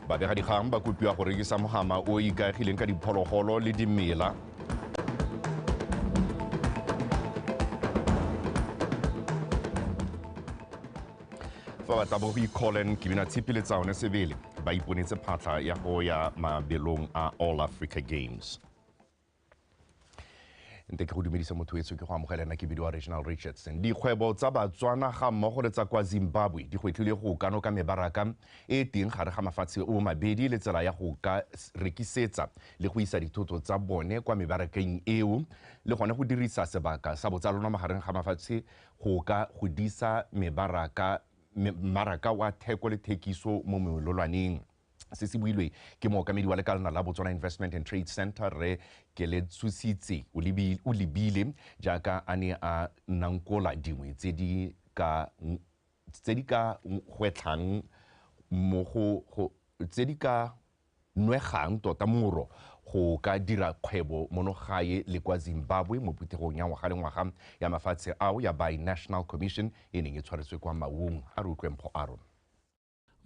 babegadikgang ba kopiwa go rekisa mogama o ikaegileng ka diphologolo le dimela fa ba tla bo go icolen ke bina tshipi le tsaone sebele ba iponetse phatlha ya go ya mabelong a all africa games nte ke go dumedisa motho etso ke go amogela ena ke bidiwa reginal richardson dikgwebo tsa batswana ga mmogo le tsa kwa zimbabwe di gwetlhile go kano ka mebaraka e teng gare ga mafatshe o mabedi le tsela ya go ka rekisetsa le go isa dithoto tsa bone kwa mebarakeng eo le gone go dirisa sebaka sa botsalano magareng ga mafatshe go ka godisa mebaraka mmaraka wa theko le thekiso mo melolwaneng Se se builwe ke mookamedi wa lekalana la Botswana Investment and Trade Centre, Rre Keletsositse Olibile, jaaka a ne a nankola dingwe tse di ka tse di ka gwetlhang mo go tse di ka nwegang tota moro go ka dira kgwebo mono gae le kwa Zimbabwe mo phuthegong ya ngwaga le ngwaga ya mafatshe ao ya Bi-National Commission e neng e tshwaretswe kwa Maung. A re utlwe mpho a rona.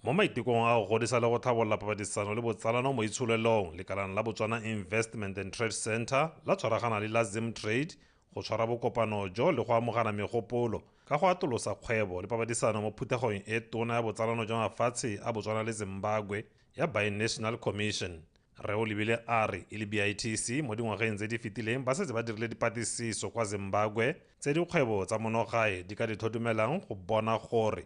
Mo maitekong a go godisa le go tlhabolola papadisano le botsalano mo itsholelong, lekalana la Botswana Investment and Trade Centre la tshwaragana le la Zimtrade go tshwara bokopano jo le go amogana megopolo ka go atolosa kgwebo le papadisano mo phuthegong e tona ya botsalano jwa mafatshe a Botswana le Zimbabwe ya Binational Commission. Rre o lebile a re e le BITC mo dingwageng tse di fetileng ba setse ba dirile dipatlisiso kwa Zimbabwe tse dikgwebo tsa monogae di ka di tlhotumelang go bona gore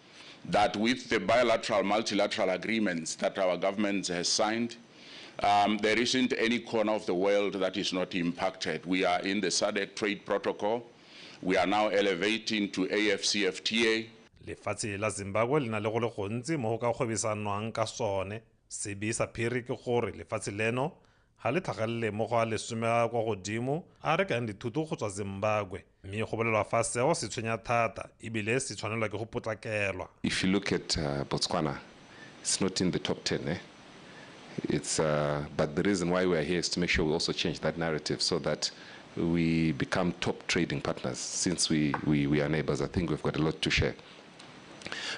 that with the bilateral, multilateral agreements that our government has signed, um, there isn't any corner of the world that is not impacted. We are in the SADC trade protocol. We are now elevating to AFCFTA. lefatshe la zimbabwe le na le go le gontsi mo go ka kgwebesanwang ka sone sebe sa phiri ke gore lefatshe leno ga le tlhagelele mo go a lesome a kwa godimo a rekang dithuto go tswa zimbabwe mme go bolelwa fa seo se tshwenya thata ebile se tshwanelwa ke go potlakelwa If you look at uh, Botswana, it's not in the top 10. Eh? It's, uh, but the reason why we are here is to make sure we also change that narrative so that we become top trading partners since we, we, we are neighbors. I think we've got a lot to share.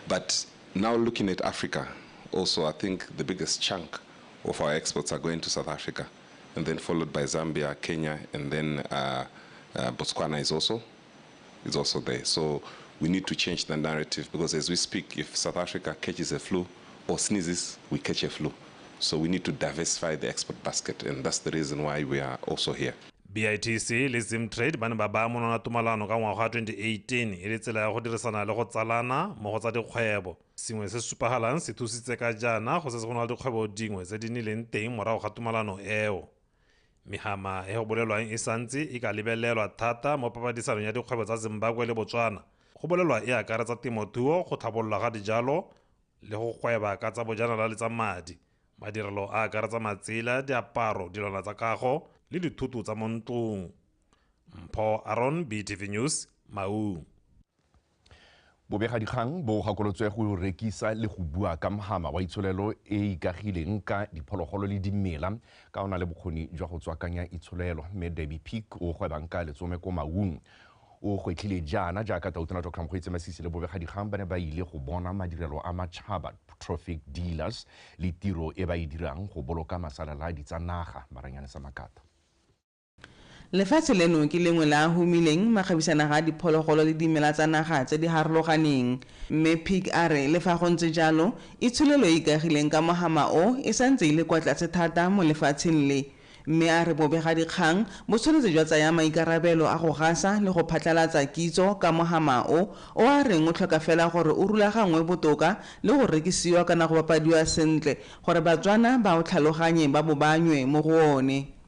But now looking at Africa, also, I think the biggest chunk of our exports are going to South Africa, and then followed by Zambia, Kenya, and then uh, uh, Botswana is also is also there. So we need to change the narrative because as we speak, if South Africa catches a flu or sneezes, we catch a flu. So we need to diversify the export basket, and that's the reason why we are also here. bitc le zimtrade ba ne ba baya monwana tumalano ka ngwaga wa 2018 e le tsela ya go dirisana le go tsalana mo go tsa dikgwebo Sengwe se se supagalang se thusitse ka jaana go setse go na le dikgwebo dingwe tse di nnileng teng morago ga tumalano eo. Mehama e go bolelwang e santse e ka lebelelwa thata mo papadisanong ya dikgwebo tsa Zimbabwe le Botswana. Go bolelwa e akaretsa temothuo, go tlhabololwa ga dijalo le go gweba ka tsa bojanala le tsa madi. Madirelo a akaretsa matsela, diaparo, dilwana tsa kago le dithoto tsa mo ntlong. Mpho Aron, BTV News, Maun. Bobegadikgang bo gakolotswe go rekisa le go bua ka mhama wa itsholelo e e ikagileng ka diphologolo le dimela ka o na le bokgoni jwa go tswakanya itsholelo. Mme Debbie Peak o gwebang ka letsome ko Maung o gwetlhile jaana jaaka Tautona Dr. Mokgweetsi Masisi le bobegadikgang ba ne ba ile go bona madirelo a matšhaba, trophic dealers, le tiro e ba e dirang go boloka masalaladi tsa naga. Maranyane Samakata. Lefatshe leno ke lengwe la a humileng makgabisanaga a diphologolo le dimela tsa naga tse di harologaneng. Mme Peek a re le fa go ntse jalo, itsholelo e e ikagileng ka mohama o e sa ntse e le kwa tlase thata mo lefatsheng le. Mme a re bobegadikgang bo tshwanetse jwa tsaya maikarabelo a go gasa le go phatlalatsa kitso ka mohama o, o a reng o tlhoka fela gore o rulaganngwe botoka le go rekisiwa kana go bapadiwa sentle gore Batswana ba o tlhaloganye ba bo ba nywe mo go one.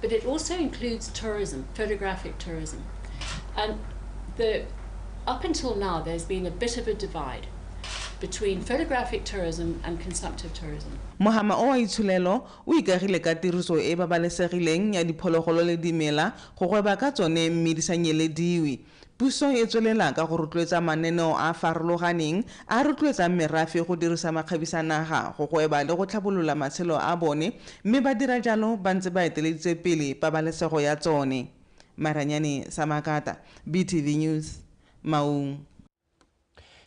but it also includes tourism, photographic tourism. And the, up until now, there's been a bit of a divide between photographic tourism and consumptive tourism. Mohama o wa itsholelo o ikagile ka tiriso e e babalesegileng ya diphologolo le dimela go gweba ka tsone mme di sa nyelediwe. Puso e tswelela ka go rotloetsa mananeo a a farologaneng a a rotloetsang merafe go dirisa makgabisanaga go gweba le go tlhabolola matshelo a bone mme ba dira jalo ba ntse ba eteleditse pele pabalesego ya tsone. Maranyane Samakata, BTV News, Maun.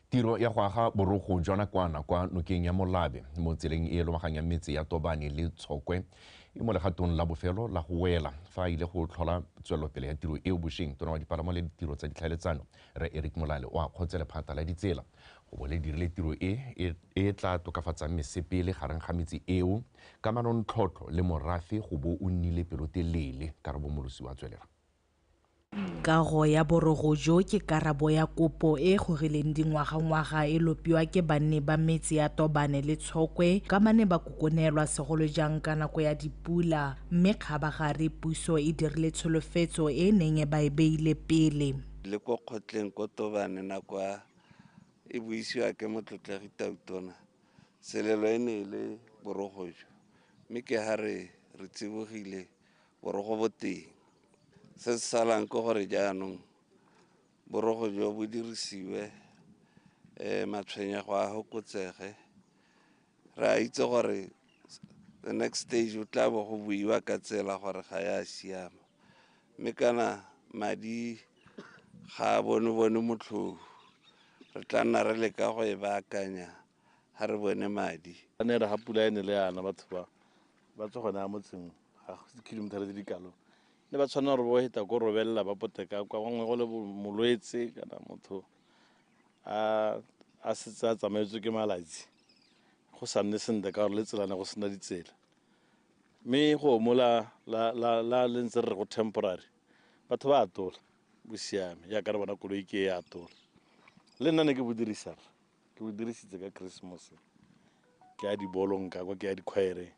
Tiro ya go aga borogo jwa nakwana kwa nokeng ya Molabe mo tseleng e e lobaganyang metse ya Tobane le Tshokwe e mo legatong la bofelo la go wela. Fa a ile go tlhola tswelelopele ya tiro eo bosheng, Tona wa Dipalamo le Ditiro tsa Ditlhaeletsano, Rre Eric Molale o akgotse lephata la ditsela go bo le dirile tiro e e tla tokafatsang mesepele gareng ga metse eo ka manontlhotlho le morafe go bo o nnile pelotelele. Karabo Molosi wa tswelela. Kago ya borogo jo ke karabo ya kopo e e gorileng dingwagangwaga e lopiwa ke banni ba metse ya Tobane le Tshokwe ka ba ne ba kokonelwa segolo jang ka nako ya dipula mme kgabagare puso e dirile tsholofetso e e neng e ba e beile pele le ko kgotleng ko Tobane nako ya e buisiwa ke Motlotlegi Tautona Selelo e ne e le borogo jo mme ke ha re re tsibogile borogo bo teng se se salang ke gore jaanong borogo jo bo dirisiwe um matshwenyego a fokotsege re a itse gore the next stage o tla bo go buiwa ka tsela gore ga ya siama mme kana madi ga a bone bone motlhong re tla nna re leka go e baakanya ga re bone madi a ne re ga pula e ne le yana batho ba ba tswa gone ya motseng ga kilomitara tse di kalo ne ba tshwanela gore bo heta ko robelela ba poteka kwa gongwe go le molwetse kana motho a setse a tsamaetswe ke malatsi go sa nne sentle ka gore le tselane go sena ditsela mme go mo la le ntse re re go temporary batho ba atola bo siame jaaka re bona koloi ke e atola le nna ne ke bo dirisang ke o dirisitse ka christmas ke ya dibolong ka kwa ke ya dikgwaere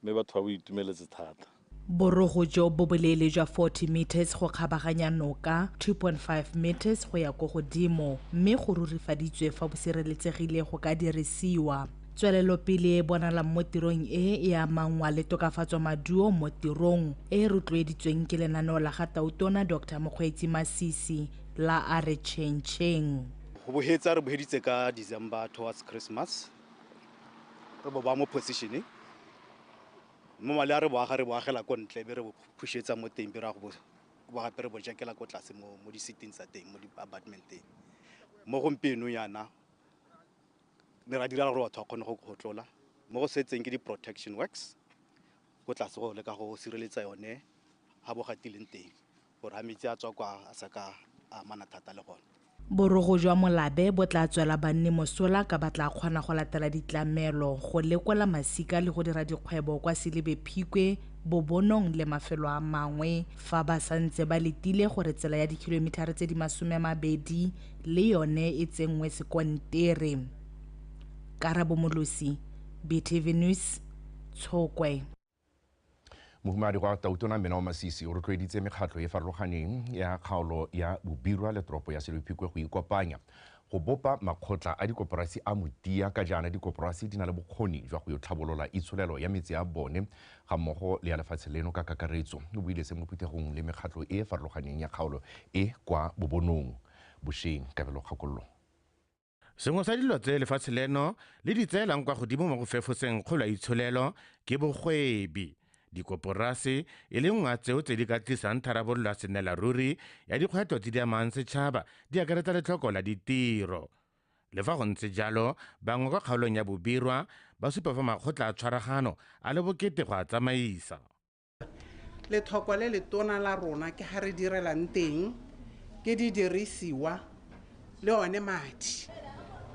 mme batho ba bo itumeletse thata borogo jo bo boleele jwa 40 meters go kgabaganya noka 2.5 meters go ya ko godimo mme go rurifaditswe fa bo sireletsegile go ka dirisiwa tswelelopele e bonalang mo tirong e e amangwa le tokafatso maduo mo tirong e e rotloeditsweng ke lenaneo la ga tautona dr mokgweetsi masisi la a re chengcheng go bohetsa re boheditse ka december towards christmas re bo ba mo positioneng mo male a re boaga re boagela ko ntle be re bo phušetsa mo teng be re ya go bo gape re bo jakela ko tlase mo mo di-sitting tsa teng mo di-apartmenteng mo gompieno yana ne ra direla gore batho ba kgone go kgotlola mo go setseng ke di-protection works ko tlase go leka go sireletsa yone ga bo gatileng teng Gore a metsi a tswa kwa a sa ka a amana thata le gone. Borogo jwa molabe bo tla tswela banni mosola ka ba tla kgona go latela ditlamelo, go lekola masika le go dira dikgwebo kwa Selibe Phikwe, Bobonong le mafelo a mangwe fa ba sa ntse ba letile gore tsela ya dikhilometer tse di masome a mabedi le yone e tsenngwe sekontere. Karabo Molosi, BTV News, Tshokwe. Mohumadi kwa Tautona Mmena wa Masisi o rotloeditse mekgatlho e farologaneng ya kgaolo ya Bobirwa le toropo ya Selophikwe go ikopanya go bopa makgotla a dikoporasi a motia ka jaana dikoporasi di na le bokgoni jwa go yo tlhabolola itsholelo ya metse a bone ga mmogo le ya lefatshe leno ka kakaretso. O buile se mo phuthegong le mekgatlho e e farologaneng ya kgaolo e kwa Bobonong bosheng. Kabelo Kgakollo. Sengwe sa dilo tse lefatshe leno le di tseelang kwa godimo mo go fefoseng kgolo ya itsholelo ke bogwebi. Dikoporase e le nngwe ya tseo tse di ka tlisang tharabololo ya senelaruri ya dikgwetlho tse di amang setšhaba di akaretsa letlhoko la ditiro. Le fa go ntse jalo, bangwe kwa kgaolong ya Bobirwa ba supa fa makgotla a tshwaragano a le bokete go a tsamaisa. Lethoko le letona la rona ke ga re direlang teng, ke didirisiwa le one madi.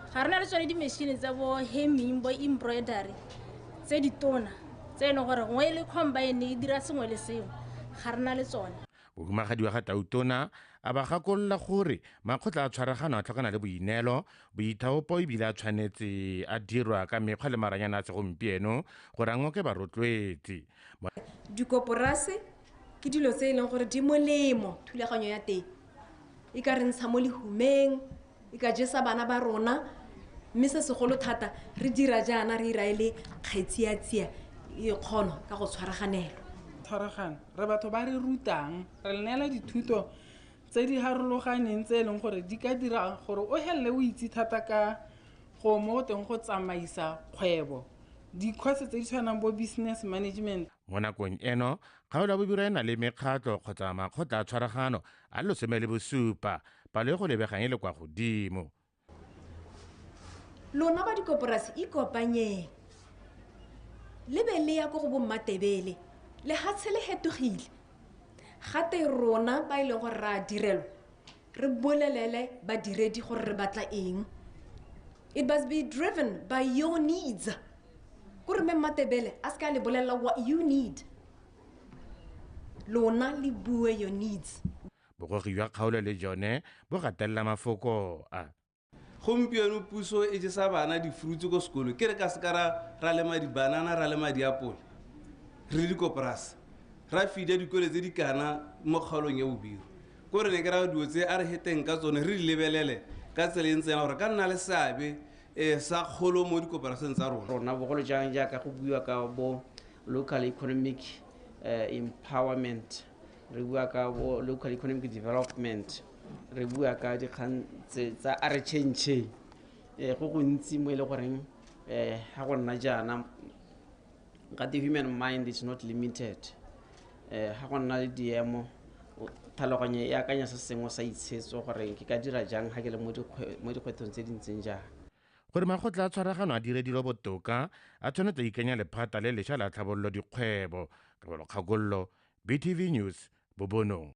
Ga re na le tsone dimešhini tsa bo hemming, bo embroidery tse ditona tse e leng gore gongwe e le combine e dira sengwe le sengwe, ga re na le tsone. Bohumagadiwa ga Tautona a ba gakolola gore makgotla a tshwaragano a tlhokana le boineelo, boithaopo e bile a tshwanetse a dirwa ka mekgwa le maranyane a segompieno gore a ngoke barotloetsi. dikoporase ke dilo tse e leng gore di molemo thulaganyo ya teng e ka re ntsha mo lehumeng e ka jesa bana ba rona mme se segolo thata re dira jaana re ira e le kgetsiatsia e kgono ka go tshwaraganelo tshwaragano re batho ba re rutang re le neela dithuto tse di harologaneng tse e leng gore di ka dira gore o helele o itse thata ka gongwe mo go teng go tsamaisa kgwebo dikhosi tse di tshwanang bo business management mo nakong eno kgaolo ya bobiro e na le mekgatlho kgotsa makgotla a tshwaragano a losome le bosupa palo e go lebegang e le kwa godimo lona ba dikoporasi ikopanyeng le be le ya ko go bommatebele lehatshe le hetogile gate rona ba e leng gore re a direlwa re bolelele badiredi gore re batla eng it must be driven by your needs kore mme mmatebele a se ka le bolelela what you need lona le bue your needs bogogi jwa kgaolo le jone bo gatelela mafoko a gompieno puso e jesa bana difrutse ko sekolo ke re ka seka ra ra lema dibanana ra lema diapole re le dikoporase ra fida dikole tse di kana mo kgaolong ya bobiro ko re ne ke ra dilo tse a re heteng ka tsone re di lebelele ka tsela e ntseng ya gore ka nna le seabe um sa kgolo mo dikoporaseng tsa rona rona bogolo jang jaaka go buiwa ka bo local economic eh, empowerment re bua ka bo local economic development re bua ka dikgang tse tsa a re change eh, go gontsi mo e le goreng eh, ga go nna jaana ka the human mind is not limited eh, ga go nna le diemo o- tlhaloganyo e akanya se sengwe sa itshetso gore ke ka dira jang ga ke le mo dikgwe- mo dikgwethong tse di ntseng jang gore makgotla a tshwaragano a dire dilo botoka a tshwanetse a ikanya lephata le lesha la tlhabololo dikgwebo ka bolokgakololo BTV News, Bobonong.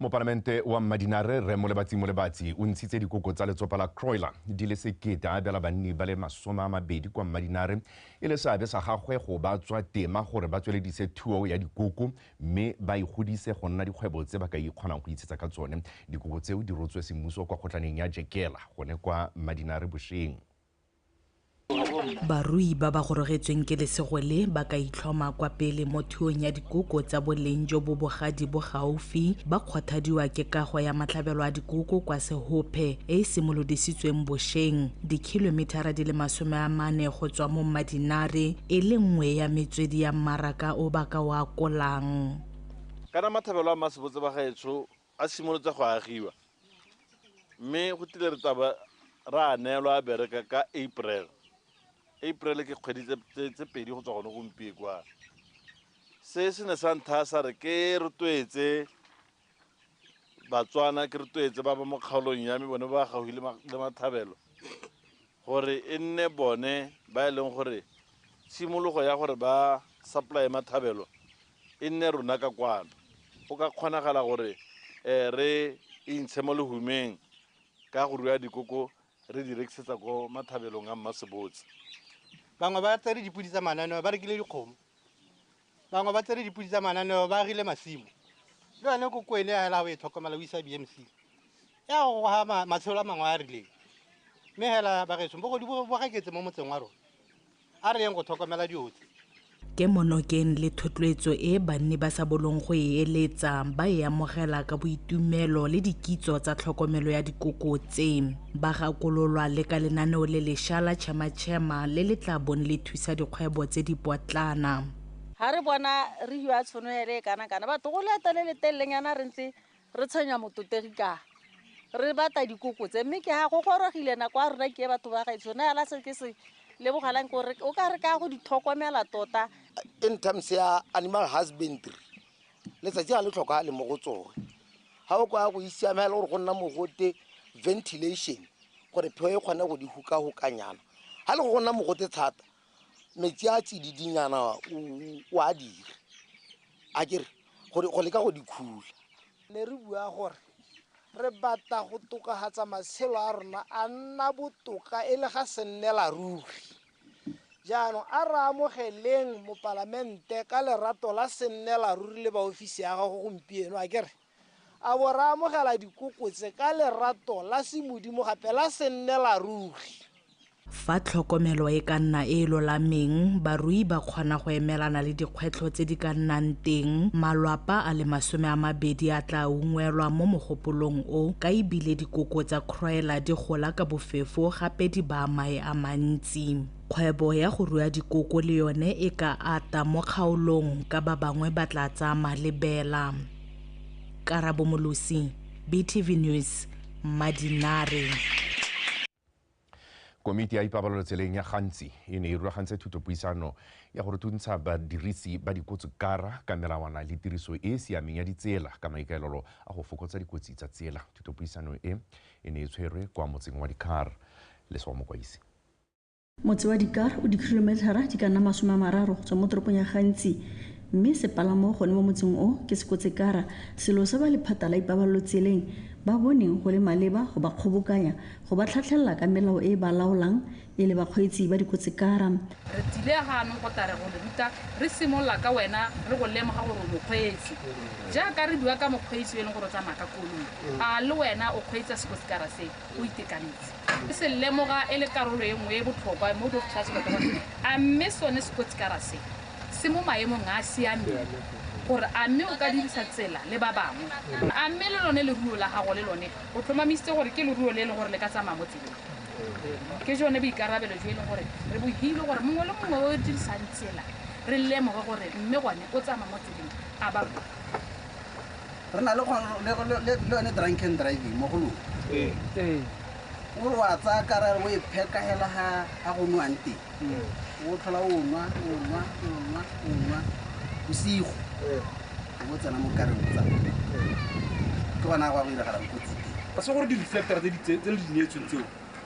Mopalamente wa Mmadinare Rre Molebatsi Molebatsi o ntshitse dikoko tsa letsopa la Croiler di le sekete a abela banni ba le masome a mabedi kwa Mmadinare e le seabe sa gagwe go ba tswa tema gore ba tsweledise thuo ya dikoko mme ba igodise go nna dikgwebo tse ba ka ikgonang go itshetsa ka tsone. Dikoko tseo di rotswe semmuso kwa kgotlaneng ya Jekela gone kwa Mmadinare bosheng. Barui ba ba gorogetsweng ke lesego le ba ka itlhoma kwa pele mo thuong ya dikoko tsa boleng jo bo bogadi bo gaufi ba kgwathadiwa ke kago ya matlhabelo a dikoko kwa Sehophe e e simolodisitsweng bosheng dikhilomithara di le masome a mane go tswa mo Mmadinare e le nngwe ya metswedi ya mmaraka o ba ka o akolang. Kana matlhabelo a mmasebotse ba gaetsho a simolotse go agiwa mme go tile re taba ra a neelwa a bereka ka april april ke kgwedi tse pedi go tswa gone gompie kwa se se ne sa ntha sa re ke rotloetse batswana ke rotloetse ba ba mo kgaolong ya me bone ba gaufi le mathabelo gore e nne bone ba e leng gore tshimologo ya gore ba supply mathabelo e nne rona ka kwano, go ka kgonagala gore re e ntshe mo lehumeng ka go rua dikoko re di rekisetsa ko mathabelong a Mmasebotse. Bangwe ba tsere dipodi tsa mananeo ba rekile dikgomo, bangwe ba tsere dipodi tsa mananeo ba agile masimo. Le yone koko ene hela o e tlhokomela o isa BMC ya go goga matshelo a mangwe a a rileng. Mme hela bageso bogodu bo gaketse mo motseng wa rona, a re yeng go tlhokomela diotlhe kemonokeng le thotloetso e banni ba sa bolong go e eletsa ba e amogela ka boitumelo le dikitso tsa tlhokomelo ya dikoko tse ba gakololwa le ka lenaneo le lesha la chema-chema le le tla bong le thusa dikgwebo tse di potlana ga re bona re hiwa tshono ele e kana kana batho go leeto le le telelenyana re ntse Re tshwenya mototegi ka re bata dikoko tse mme ke ga go gorogile nako ya rona ke e batho ba gaetsho na yala se ke se lebogelang ke gore o ka re ka go di tlhokomela tota in terms ya animal husbandry letsatsi ga le tlhokagale mo go tsone ga o kwa go isiamela gore go nna mogote ventilation gore pheo e kgone go di hukahukanyana ga le go go nna mogote thata metsi a tsididinyana o a dire a kere go leka go di khula ne re bua gore re batla go tokafatsa matshelo a rona a nna botoka e le ga se nnela ruri jaanong a re amogeleng mopalamente ka lerato la se nnela ruri le baofisi ya gago gompieno a kere A bo re amogela dikoko tse ka lerato la semodimo gape la sennelaruri. Fa tlhokomelo e ka nna e e lolameng, barui ba kgona go emelana le dikgwetlho tse di ka nnang teng. Malwapa a le masome a mabedi a tla ungwelwa mo mogopolong o ka e bile dikoko tsa Croiler di gola ka bofefo gape di baa mae a mantsi. Kgwebo ya go rua dikoko le yone e ka ata mo kgaolong ka ba bangwe ba tla tsaya malebela. karabo molosi btv news madinare komiti ya ipabalelo tseleng ya gantsi e ne e rulagantse thutopuisano ya go rutuntsha badirisi ba dikotsi kara ka melawana le tiriso e e siameng ya ditsela ka maikaelelo a go fokotsa dikotsi tsa tsela thutopuisano e e ne e tshwerwe kwa motseng wa dikar leswa mokwaisi Motse wa Dikar o dikhilometlhara di ka nna masome a mararo go tswa mo toropong ya Gantsi mme sepalamo gone mo motseng o ke Sekotsekara, selo se ba lephata la ipabalelo tseleng ba boneng go le maleba go ba kgobokanya go ba tlhatlhelela ka melao e e ba laolang e le bakgweetsi ba dikotsekara. Re tsile ganong go tla re go le ruta re simolola ka wena re go lemoga gore o mokgweetsi. Jaaka re bua ka mokgweetsi yo e leng gore o tsamaya ka koloi, a le wena o kgweetsa sekotsekara se? o itekanetse, e se lemoga e le karolo e nngwe e e botlhokwa mo botlhatswelokgolong. A mme sone sekotsikara se se mo maemong a a siameng gore a mme o ka dirisa tsela le ba bangwe? A mme le lone leruo la gago le lone o tlhomamisitse gore ke leruo le e leng gore le ka tsamaya mo tseleng? Ke jone boikarabelo jo e leng gore re bo hilwe gore mongwe le mongwe o dirisang tsela re lemoge gore mme gone o tsamaya mo tseleng a ba ruri. re na le yone drunk and driving mo go lone o re wa tsaya kara o e pheka hela ga go nwang teng o tlhola o nwa o nwa o nwa o nwa bosigo o bo tsena mo kareng o tsaya ke gona go a go iragalang kotsi teng se gore di-reflector tse le di neetsweng tseo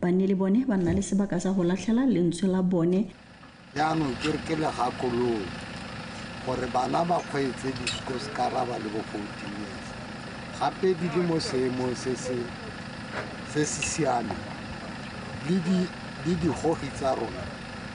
Banni le bone ba nna le sebaka sa go latlhela lentswe la bone. Jaanong ke re ke le gakololo gore bana ba kgweetse disikoscara ba le bo 14 years gape di le mo seemong se se se se siameng le di le digogi tsa rona.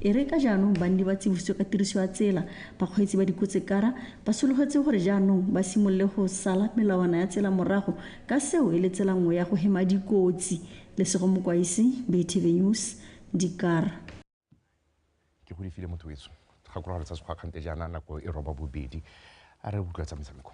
E re ka jaanong banni ba tsibositswe ka tiriso ya tsela, bakgweetsi ba dikotsekara ba sologetswe gore jaanong ba simolole go sala melawana ya tsela morago ka seo e le tsela nngwe ya go hema dikotsi. Lesego Mokwaisi, Bay TV News, Dikara. ke go lefile motho wetso gakologa re tsa sekgwakgante jaana nako e roba bobedi a re utlwa tsa metshameko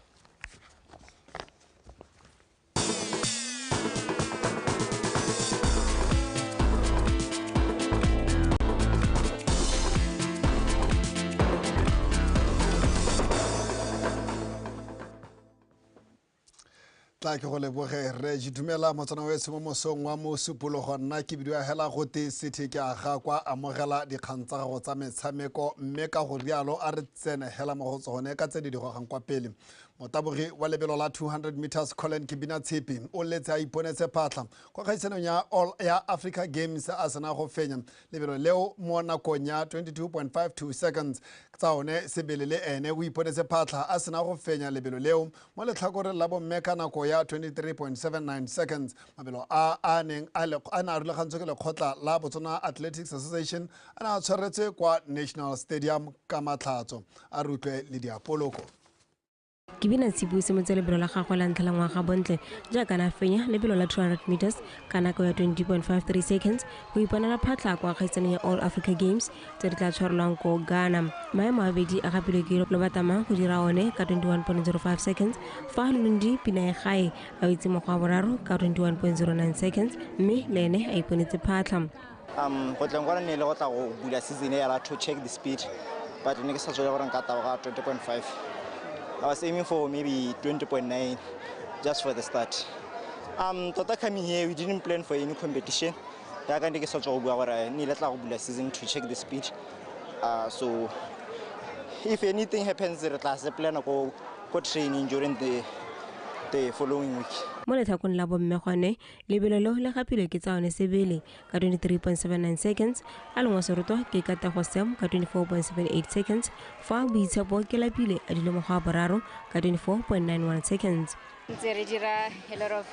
tla ke go leboge re dumela motsana o ese mo mosong wa mosupologo nna ke bidio ya hela gote sethe ke aga kwa amogela dikgang tsa gago tsa metshameko mme ka go rialo a re tsene hela mo go tsone ka tse di digogang kwa pele motabogi wa lebelo la 200 meters colin kibina tshepi o letse a iponetse phatlha kwa kgaisanong ya all ya africa games a sena go fenya lebelo leo mo nakong ya 22.52 seconds tsa one sebele le ene o iponetse phatlha a sena go fenya lebelo leo mo letlhakoreng la bomme ka nako ya 23.79 seconds mabelo a a neng a ne a rulagantswe ke lekgotla la botswana athletics association a ne a tshwaretswe kwa national stadium ka matlhatso a rutlwe le diapoloko ke bina tshipu se motse lebelo la gagwe la ntlha la ngwaga bontle jaaka na fenya lebelo la 200 meters ka nako ya 20.53 seconds go iponela phatlha kwa kgaisanong ya all africa games tse di tla tshwarelwang ko ghana maemo a bedi a gapilwe ke lo batama go dira one ka 21.05 seconds fa lundi pina ya gae a itse mokgwa wa boraro ka 21.09 seconds mme le ene a iponetse phatlha Um, go tleng kwana ne le go tla go bula season ya to check the speed but ne ke sa tswele gore nka taboga 20.5 i was aiming for maybe 20.9 just for the start um tota coming here we didn't plan for any competition yaka ne ke sa tswa go bua gore ne ile tla go bula season to check the speed uh, so if anything happens re tla se plana ko ko training during the the following week mo letlhakong la bomme gone lebelo leo le gapilwe ke tsa one sebele ka 23.79 seconds a lengwa seroto ke katago sam ka 24.78 seconds fa boitshepo ke lapile a dile mokgwa wa boraro ka 24.91 seconds ntse re dira a lot of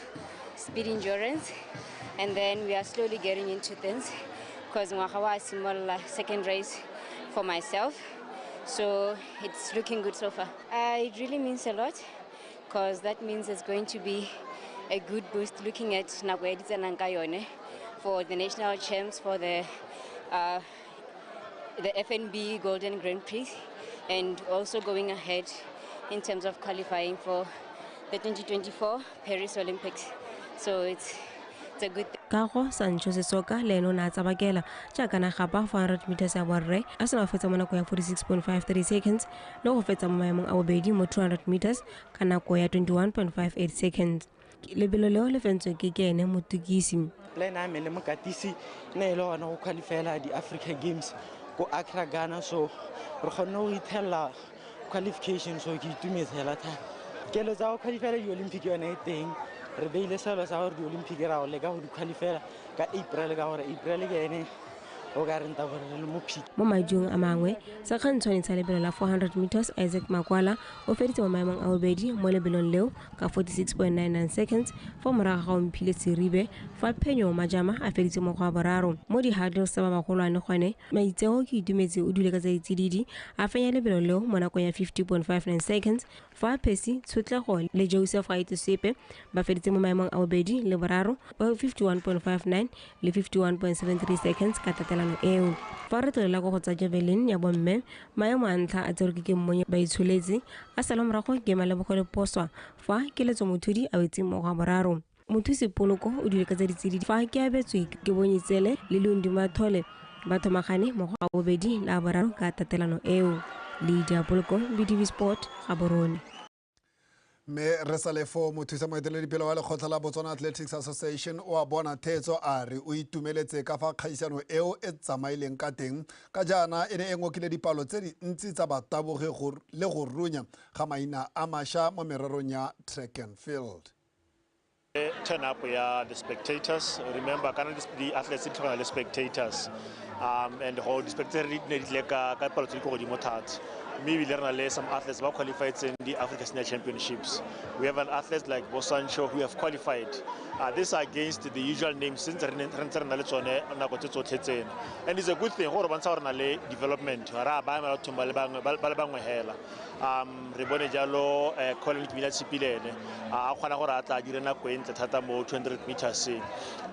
speed endurance and then we are slowly getting into things because ngwaga wa simolola second race for myself so it's looking good so far uh, it really means a lot because that means it's going to be a good boost looking at nako ya ditsenang ka yone for the national champs for the uh, the FNB Golden Grand Prix and also going ahead in terms of qualifying for the 2024 Paris Olympics. So it's it's a good thing. kago sancho sesoka le ene o ne a tsabakela jaaka na gapa 400 meters ya borre a se na fetsa mo nako ya 46.53 seconds le go fetsa mo maemong a bobedi mo 200 meters ka nako ya 21.58 seconds lebelo leo le fentswe ke ke ene motukisi le ene a me le mokatisi ne e le gone go qualifyela di-africa games ko acra ghana so re kgonne go ithelela qualification so ke itumetse hela thata kelo tsa go qualifyela di-olympic yone e teng re beile selo sa gore di-olympic ra go leka go di qualifyela ka april ka gore april ke ene o ka renta gore re le mo phika mo majung a mangwe sekgantshwane sa lebelo la 400 meters isaac makwala o feditse mo maemong a bobedi mo lebelong leo ka 46.99 seconds fa morago ga omphile seribe fa phenyo majama a feditse mo go a boraro mo di-hurdles tsa ba bagolwane gone maitseo ke itumetse o dule ka tsa ditsididi a fenya lebelo leo mo nakong ya 50.59 seconds Fa Percy Tshotlego le Joseph Gaitesepe ba feditse mo maemong a bobedi le boraro ba 51.59 le 51.73 seconds ka tatelano eo. Fa re tlolela kwa go tsa javelin ya bomme, maemo a ntlha a tserwe ke Kemmonye ba itsholetse, a salwa morago ke Malebogo Leposwa fa Keletso Mothudi a wetse mo go a boraro. Mothusi Poloko o dule ka tsa ditsididi fa ke abetswe ke Bonyitsele le Lundi Mathole ba thomagane mo go a bobedi le a boraro ka tatelano eo. Lydia Poloko, BTV Sport, Gaborone. mme re sa le foo mothusa moeteledipele wa lekgotla la botswana athletics association o a bona theetso a re o itumeletse ka fa kgaisano eo e tsamaileng ka teng ka jaana e ne e ngokile dipalo tse dintsi tsa batabogi le go runya ga maina a masha mo mererong ya track and field turn up ya the spectators remember kana di-athletes di tlhokana le spectators um and go di-spectator di ne di tle ka ka palo tse di ko godimo thata mme ebile re na le some athletes ba qualifietseng di-africa senior championships we have an athlete like bo sancho who have qualified uh, this are against the usual names since re ntse re na le tsone nako tse tsotlhe tseno and it's a good thing gore bontsha gore na le development ra ba emela bathong ba le bangwe hela um re bone jalo um colin kmina tshipilene a kgona gore a tla a dire nako e ntle thata mo 200 meterseng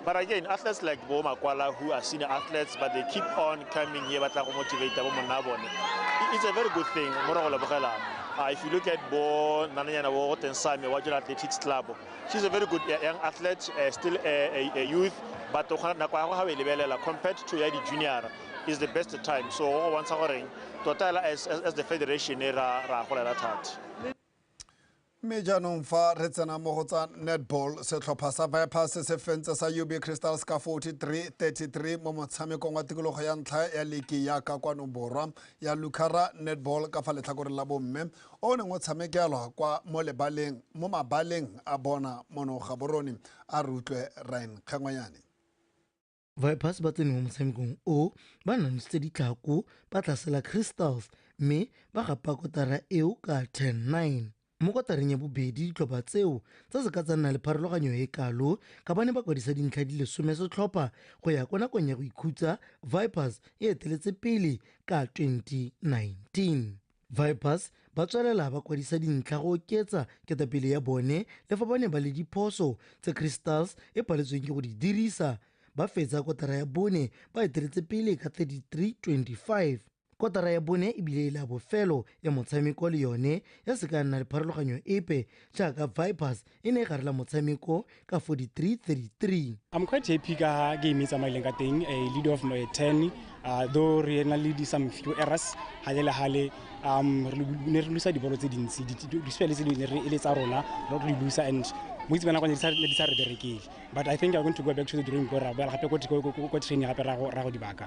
but again athletes like bo makwala who are senior athletes but they keep on coming here ba tla go motivate bo monna bone it's a very good thing mo re go lebogelang uh, if you look at bo nananyana bo goteng same wa jona athletics club she's a very good uh, young athlete uh, still a, a, a youth but o kgona nako ya go ga o e lebelela compared to ya di-junior is the best time so go bontsha goreng tota hela as, as, as the federation e ra ra golela thata mme jaanong fa re tsena mo go tsa netball setlhopha sa vipers se fentse sa ub crystals ka 43-33 mo motshamekong wa tikologo ya ntlha ya leki ya ka kwano borwa ya lucara netball ka fa letlhakoreng la bomme o neng o tshamekelwa kwa mo lebaleng mo mabaleng a bona mono gaborone a re utlwe ryan kgengwanyane Vipers ba tsene mo motshamekong o ba nanositse ditlhako ba tlasela Crystals mme ba gapa kotara eo ka 10-9. Mo kotareng ya bobedi ditlhopha tseo tsa se ka tsa nna le pharologanyo e kalo ka ba ne ba kwadisa dintlha di le some setlhopha go ya kwa nakong ya go ikhutsa Vipers e eteletse pele ka 2019. Vipers ba tswelela ba kwadisa dintlha go oketsa ketapele ya bone le fa ba ne ba le diphoso tse Crystals e paletsweng ke go di dirisa ba fetsa kotara ya bone ba eteletse pele ka 33-25. Kotara ya bone e bile e le ya bofelo ya motshameko le yone ya se ka ya nna le pharologanyo epe jaaka Vipers e ne e garela motshameko ka 43-33 I'm quite happy ka ha game e tsamaileng ka teng a eh, lead of my 10 uh, though re na le di some few errors hale le hale um ne re lusa dibolo tse dintsi dispele tse dingwe re ele tsa rona re re lusa and boitse bana kwane di sa re berekele but i think i'm going to go back to the drawing board ra boela gape ko training gape ra go dibaka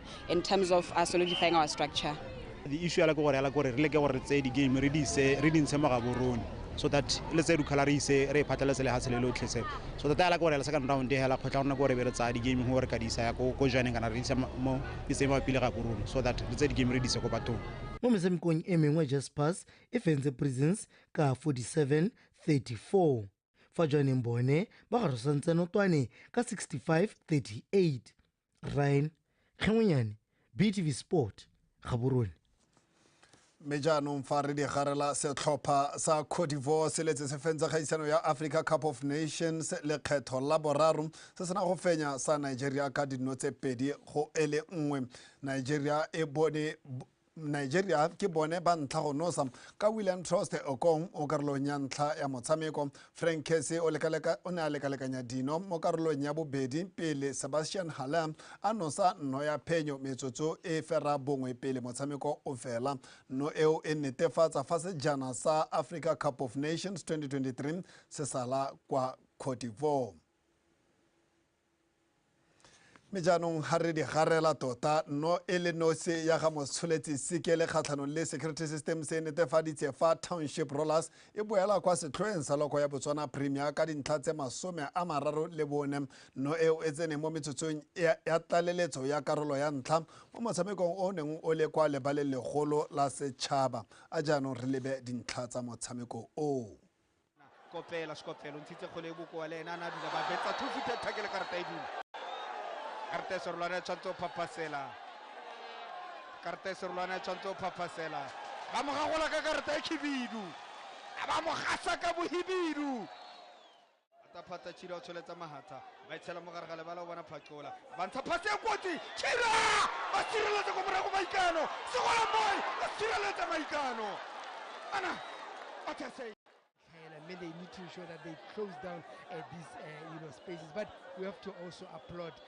in terms of uh, solidifying our structure the issue ya la ke gore ya la gore re leke gore re tseye di-game re dintshe mo gaborone so that le tse dukhala re ise re phatlhaletse lehatshe le lotlhe se so that ya la gore la second round hela kgotla rona gore be re tsaya di-game gore ka di isa ya ko joaneng kana re isa mo iseng ba pile ga korone so that re tse di-game re di ise ko bathong mo metshamekong e mengwe jaspers e fentse prisons ka 47 34 fa joaneng bone ba garosantseno twane ka 65 38 ryan tlhongonyane btv sport gaborone mme jaanong fa re digarela setlhopha sa codivor se letse se fentse kgaisano ya africa cup of nations lekgetho la boraro se sena go fenya sa nigeria ka dino tse pedi go ele nngwe nigeria e bone nigeria ke bone ba ntlha go nosa ka william troste okong o karolong ya ntlha ya motshameko frank kese o ne a lekalekanya dino mo karolong ya bobedi pele sebastian halam a nosa nno ya phenyo metsotso e fera bongwe pele motshameko o fela nno eo e netefatsa fa sejana sa africa cup of nations 2023 se sala kwa cote divoire mme jaanong ga re di garela tota no e le nosi ya ga motsholetsi sikele kgatlhanong le security system se netefaditse fa township rollers e boela kwa setlhoeng sa loko ya botswana premier ka dintlha tse masome a mararo le bone no eo e tseneng mo metsotsong ya tlaleletso ya karolo ya ntlha mo motshamekong o neng o le kwa lebaleng legolo la setšhaba a jaanong re lebe dintlha tsa motshameko oo Kopela Sekophelo o ntshitse kgole e bokoa le ene a ne a dula ba betsa two footed tackle karata e dula. Karata e serolwana e tshwanetse o phaphasela. Karata e serolwana e tshwanetse o phaphasela. Ba mo gagola ka karata e khibidu. Ba mo gasa ka bohibidu. phata chira o tsholetsa mahatha ba itshela mo gare ga lebala o bona phatlola ba ntsha phate e kotsi chira ba tsireletse ko morago maikano segola boy ba tsireletse maikano ana what i say Kayla, maybe they need to ensure that they close down uh, these uh, you know spaces. But we have to also applaud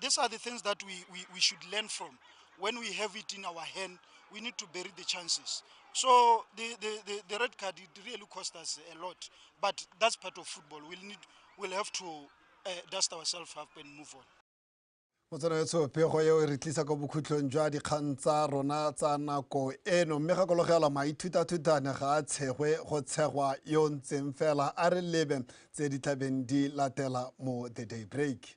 These are the things that we, we, we should learn from. When we have it in our hand, we need to bury the chances. So the, the, the, the red card, it really cost us a lot. But that's part of football. We'll, need, we'll have to uh, dust ourselves up and move on. motsana yetsho pego eo e re tlisa kwa bokhutlhong jwa dikgang tsa rona tsa nako eno mme gakologela maithutathutane ga a tshegwe go tshegwa yo ntseng fela a re lebe tse di tlabeng di latela mo the day break